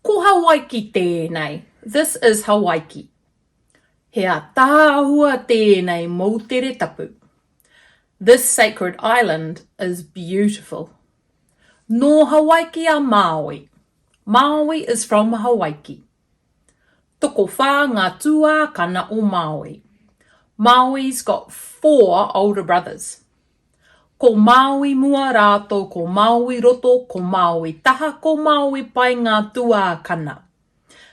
Ko Hawaiki tēnei, this is Hawaiki. He ataahua tēnei moutere tapu. This sacred island is beautiful. Nō Hawaiki a Māui. Māui is from Hawaiki. Tokowhā ngā tuākana o Māui. Māui's got four older brothers. Ko Māui mua rātou ko Māui roto, ko Māui taha, ko Māui pai ngā tuākana.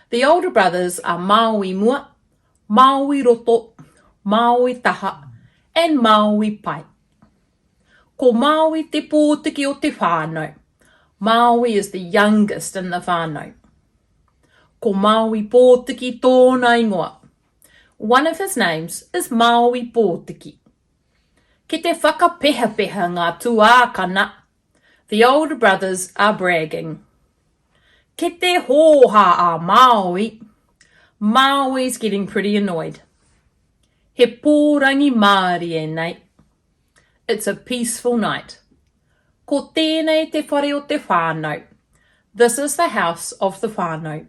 The older brothers are Māui mua, Māui roto, Māui taha and Māui pai. Ko Māui te pōtiki o te whānau. Māui is the youngest in the whānau. Ko Māui Pōtiki tōna ingoa. One of his names is Māui Pōtiki. Ki te whakapehapeha ngā tuākana, the older brothers are bragging. Ki te hōhā a Māui, Māui's getting pretty annoyed. He pōrangi mārie nei. It's a peaceful night. Ko tēnei te whare o te whānau. This is the house of the whānau.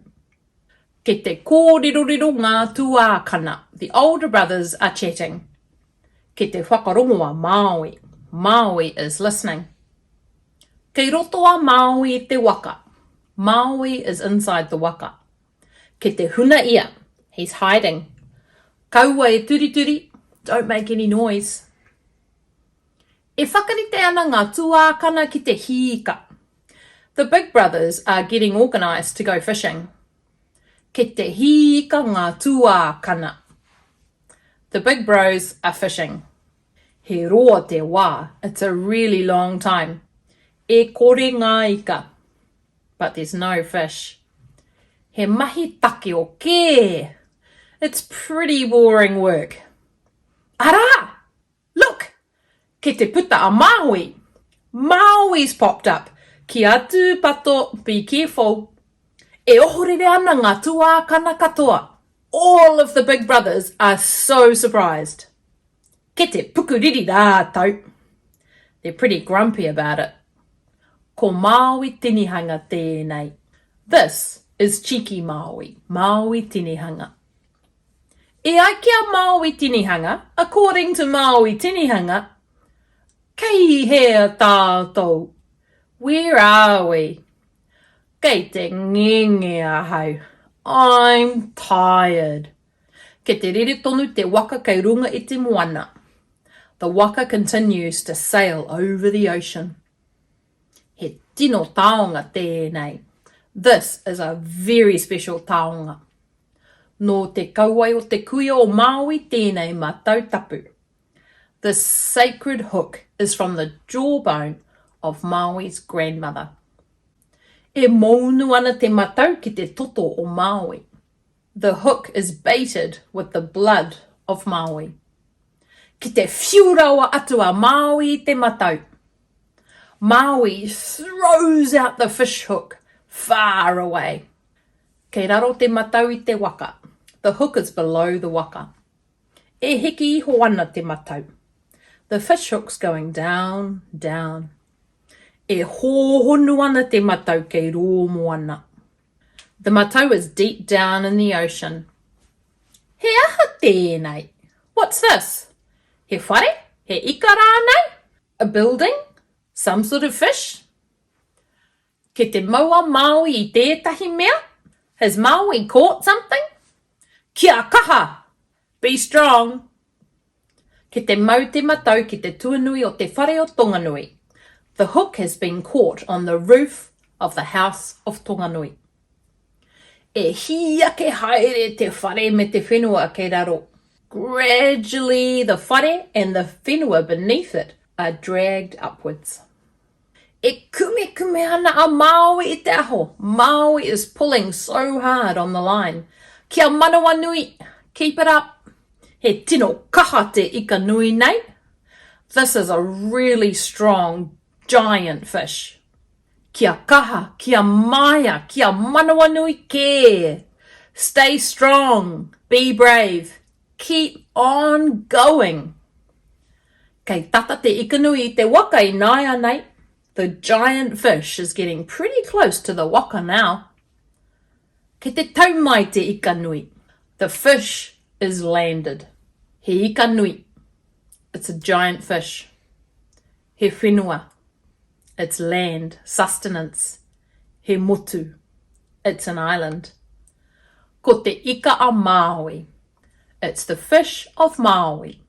Kei te kōriroriro ngā tuākana. The older brothers are chatting. Kei te whakarongo a Māui. Māui is listening. Kei roto a Māui i te waka. Māui is inside the waka. Ke te huna ia, he's hiding. Kaua e turituri, don't make any noise. E whakarite ana ngā tuākana ki te hīka. The big brothers are getting organised to go fishing. Ke te hīka ngā tuākana. The big bros are fishing. He roa te wā, it's a really long time. E kore ngā ika. But there's no fish. He mahi takeo kē! It's pretty boring work. Arā! Look! Kei te puta a Māui! Maui's popped up! Ki a Tūpato, be careful! E ohorere ana ngā tuākana katoa! All of the big brothers are so surprised. Ki te pukuriri rātou. They're pretty grumpy about it. Ko Māui tinihanga tēnei. This is cheeky Māui, Māui tinihanga. E ai ki a Māui tinihanga, according to Māui tinihanga, Kei hea tātou? Where are we? Kei te ngenge ahau. I'm tired. Kei te rere tonu te waka kei runga i te moana. The waka continues to sail over the ocean. He tino taonga tēnei. This is a very special taonga. Nō te kauae o te kuia o Māui tēnei matau tapu. This sacred hook is from the jawbone of Māui's grandmother. E mounu ana te matau ki te toto o Māui. The hook is baited with the blood of Māui. Ki te whiu rawa atu a Māui i te matau. Māui throws out the fish hook far away. Kei raro te matau i te waka. The hook is below the waka. E hiki iho ana te matau. The fish hook's going down, down. E hōhonu ana te matau kei rō moana. The matau is deep down in the ocean. He aha tēnei? What's this? He whare? He ika rānei? A building? Some sort of fish? Kei te mau a Māui i tētahi mea? Has Māui caught something? Kia kaha! Be strong! Ki te mau te matau ki te tuanui o te whare o Tonganui, the hook has been caught on the roof of the house of Tonganui. E hī ake haere te whare me te whenua kei raro. Gradually the whare and the whenua beneath it are dragged upwards. E kumekume ana a Māui i te aho, Māui is pulling so hard on the line. Kia manawanui, keep it up. He tino kaha te ika nui nei. This is a really strong giant fish. Kia kaha, kia maea, kia manawanui kē! Stay strong, be brave. Keep on going! Kei tata te ikanui i te waka ināianei, the giant fish is getting pretty close to the waka now. Kei te tau mai te ikanui, the fish is landed. He ikanui, it's a giant fish. He whenua, it's land, sustenance, he motu, it's an island. Ko te ika a Māui, it's the fish of Māui.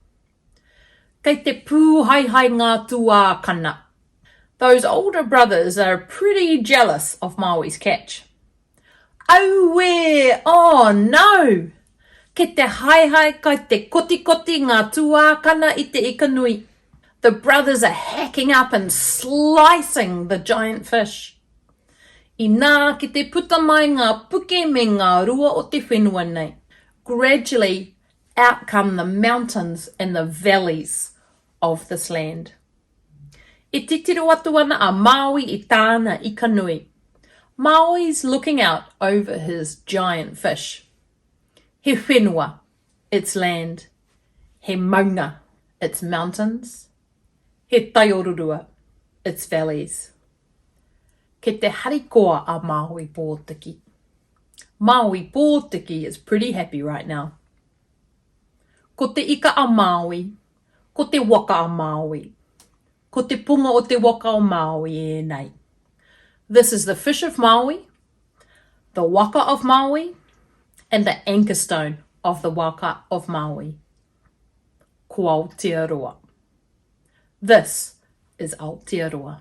Kei te pūhaehae ngā tuākana. Those older brothers are pretty jealous of Māui's catch. Auē! Oh, no! Kei te haehae, kai te kotikoti ngā tuākana i te ika nui. The brothers are hacking up and slicing the giant fish. Inā, ki te puta mai ngā puke me ngā rua o te whenua nei. Gradually, out come the mountains and the valleys of this land. E titiro atu ana a Māui i tāna ika nui. Māui's looking out over his giant fish. He whenua, it's land. He maunga, it's mountains. He taiorurua, it's valleys. Kei te harikoa a Māui Pōtiki. Māui Pōtiki is pretty happy right now. Ko te ika a Māui, Ko te waka a Māui. Ko te punga o te waka o Māui ēnei. This is the fish of Māui, the waka of Māui, and the anchor stone of the waka of Māui. Ko Aotearoa. This is Aotearoa.